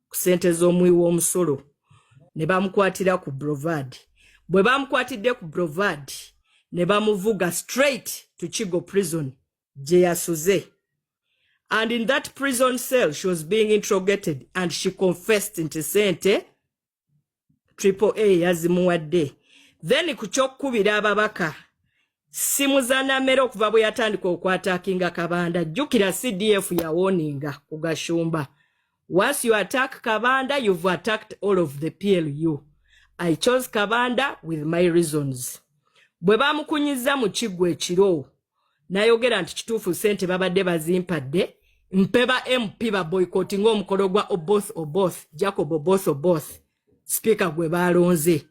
ku sente z'omuwi w'omusolo ne bamukwatira ku brovad bwe bamukwatidde ku brovad ne bamuvuga straight to kigo prison gye yasuze and in that prison cell she was being interrogated and she confessed nti sente triple a yazimuwadde then ku kyokukubira ababaka simu za namera okuva bwe yatandika okwatakinga kabanda jjukira cdf yawoninga ku gashumba once you attack kabanda you've attacked all of the plu i chose kabanda with my reasons bwe bamukunyiza mu kiggwa ekiro nayogera nti kituufu sente babadde bazimpadde mpe ba mp ba boycott ng'omukolo gwa oboth oboth jacob oboth oboth sipiika gwe baalonze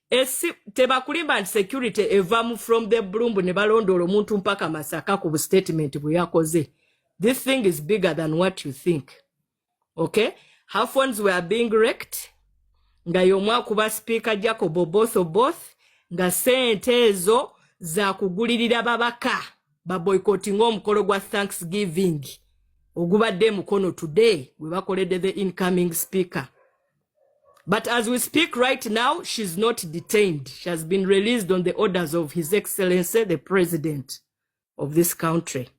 esi tebakulimba nti security evamu from the bloombu ne balondoola omuntu mpaka masaka ku bu statement bwe yakoze this thing is bigger than what you think okay her phones were being wrecked nga y'omu akuba sipiika jacob oboth oboth nga sente ezo zakugulirira babaka baboycottinga omukolo gwa thanksgiving ogubadde emukono today webakoledde the incoming speaker but as we speak right now she's not detained she has been released on the orders of his excellency the president of this country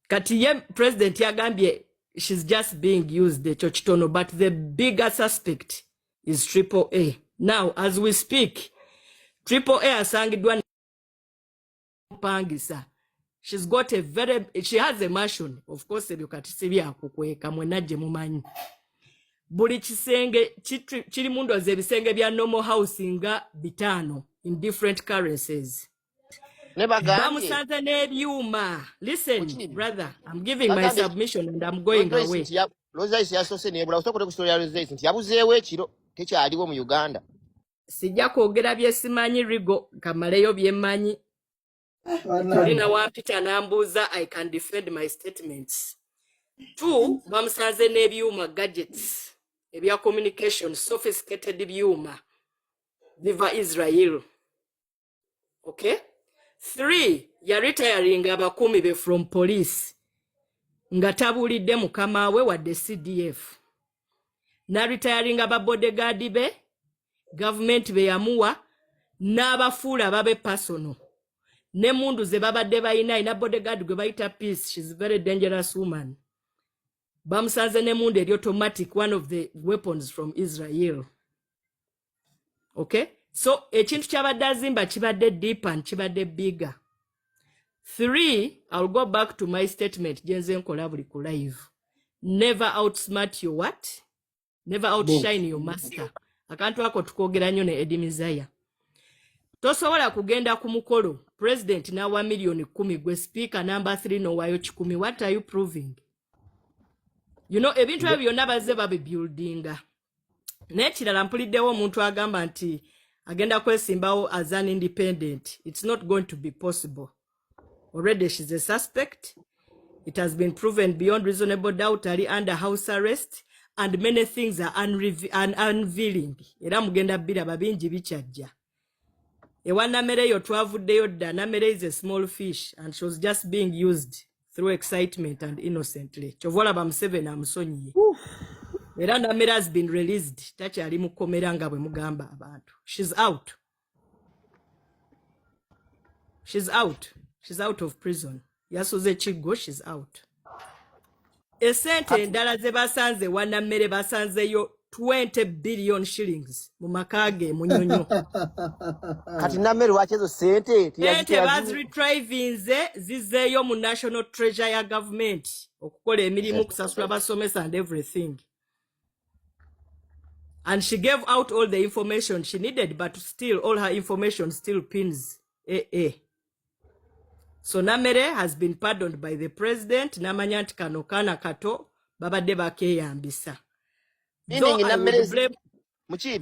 kati ye president yagambye she's just being used ekyo kitono but the bigger suspect is triple a now as we speak triple a asangiddwa pangisa she's got a very she has a mansion of course ebyo kati si byakukweka mwena gye mumanyi buli kisenge kiri mu ndwazi ebisenge bya normal house nga bitaano in different currencies ne bagambye bamusanze n'ebyuma listen Kuki? brother i'm giving my bagambye submission and i'm going Lozoisi away nti ya- Lozoisi yasoose nebula osokole ku story ya Lozoisi nti yabuzeewo ekiro tekyaliwo mu Uganda sijja kwogera byesimanyi rigo kamaleyo byemanyi tuli banange nawampita n'ambuuza i can defend my statements two bamusanze n'ebyuma gadgets ebya communication sophisticated byuma biva israel okay three ya retiring abakuumi be from police nga tabuulidde mukama we wadde cdf na retiring ababodegaadi be gavumenti be yamuwa n'abafuula babe personal ne mundu ze babadde balina ina bodegaadi gwe bayita peace shes very dangerous woman bamusanze ne mundu eri automatic one of the weapons from israel okay so ekintu kyabadde azimba kibadde deep and kibadde bigger three ill go back to my statement gyenze nkola buli ku live never outsmart your what never outshine your master akantu ako tukogera nnyo ne edi mizaya tosobola kugenda ku mukolo president nawa miliyoni kumi gwe speaker number three nowayo kikumi what are you proving you know ebintu ebyo byonna bazze babibuildinga n'ekirala mpuliddewo omuntu agamba nti agenda kwesimbawo as an independent it's not going to be possible already she's a suspect it has been proven beyond reasonable doubt ali under house arrest and many things are unrevealing era mugenda biraba bingi bikyajja ewa namere eyo twavuddeyo dda namere is a small fish and she was just being used through excitement and innocently kyova olaba museveni amusonyiye era namere has been released takyali mu kkomera nga bwe mugamba abantu shes out shes out shes out of prison yasuze kiggo shes out esente endala ze basanze wanammere basanzeyo 20 billion shillings mu maka ge munyonyo kati nammere lwaki ezo sente sente baziretrivinze zizeeyo mu national treasure ya government okukola emirimu kusasula basomesa and everything and she gave out all the information she needed but still all her information still pins eh, eh. so namere has been pardoned by the president namanya nti kano kaana kato babadde bakeyambisa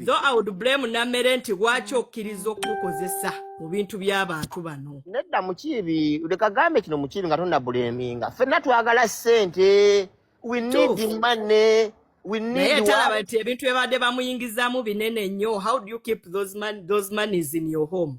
though i would blame namere nti lwaki okkiriza okumukozesa mu bintu by'abantu bano nedda mukiibi lekagambe kino mukiibi nga tonabuleminga fenna twagala sente we need money naye talaba nti ebintu ebadde bamuyingizamu binene nnyo how do you keep those, man, those monies in your home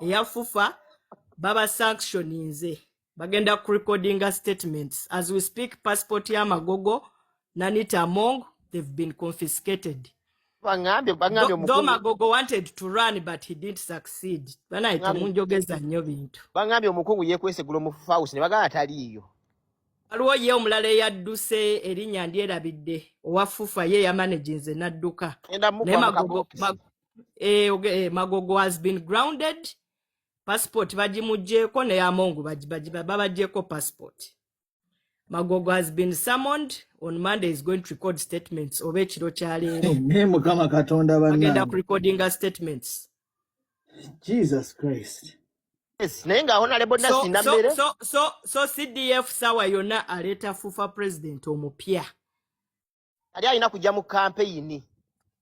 eya fufa baba sanctioninze bagenda ku recordinga statements as we speak passport ya magogo nanita among they've been confiscated though magogo wanted to run but he didn't succeed banaye temunjogeza nnyo bintu bangambye omukungu yekwesegula omu house ne bagala taliiyo waliwo ye omulala eyadduse erinnya ndyerabidde owa fufa ye yamanaginze n'adduka naye magogo eh, okay, eh, magogo has been grounded passport bagimugyeko naye amongu babagyeko passport magogo has been summoned on monday is going to record statements oba ekiro kyaleero mukama katonda bagenda kurecordinga statements jesus christ naye nga honalebo nasinda mbere so cdf sawa yonna aleeta fufa president omupya ali alina kujja mu kampeyini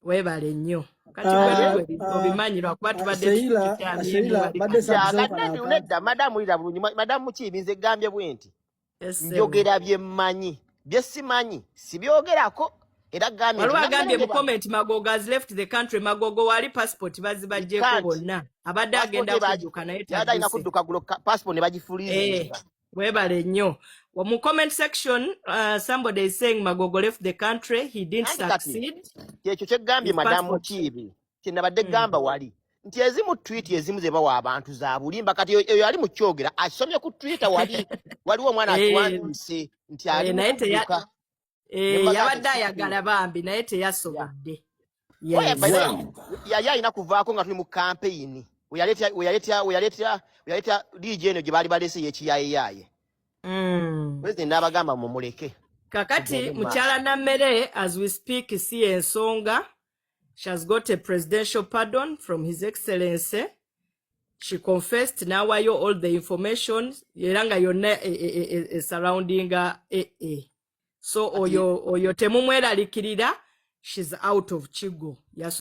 webale nnyo kati ah, ah, obimanyi lwakuba ah, tubaddenedda madamu wulira bulungi madamu mukiibi nze gambye bwe nti njogera bye mmanyi bye simanyi sibyogerako era gambyeagambye mu comment magogo has left the country magogo wali passport bazibajjeko bonna abadde agenda kudduka naye alina kudduka gulo passport ne bagifuliza eh. webale nnyo mu comment section uh, somebody is saying magogo left the country he didn't succeed kyekyo kyegambye madamu kiibi kyenabadde hmm. gamba mm. wali nti ezimu twit ezimu zebawa abantu zabulimba kati eyo ali mukyogera asomye ku twitter wali waliwo omwana eh. atuwanise nti eh, ali naye Eh, Nemba yabadde gati ayagala sikiriza. bambi naye Yeah. teyasobodde Oya, yes by the way, Wow. yali alina kuvaako nga tuli mu kampeyini weyaleeta weyaleeta weyaleeta weyaleeta dj eno gye baali baleese yekiyaayeyaaye mm. president n'abagamba mumuleke kakati tugende mu maaso mukyala nammere as we speak si yensonga she has got a presidential pardon from his excellency she confessed nawayo all the information era nga yonna e, e, e, e, e surroundinga e, e. so oyo, oyo temumweralikirira she's out of kigo Yasu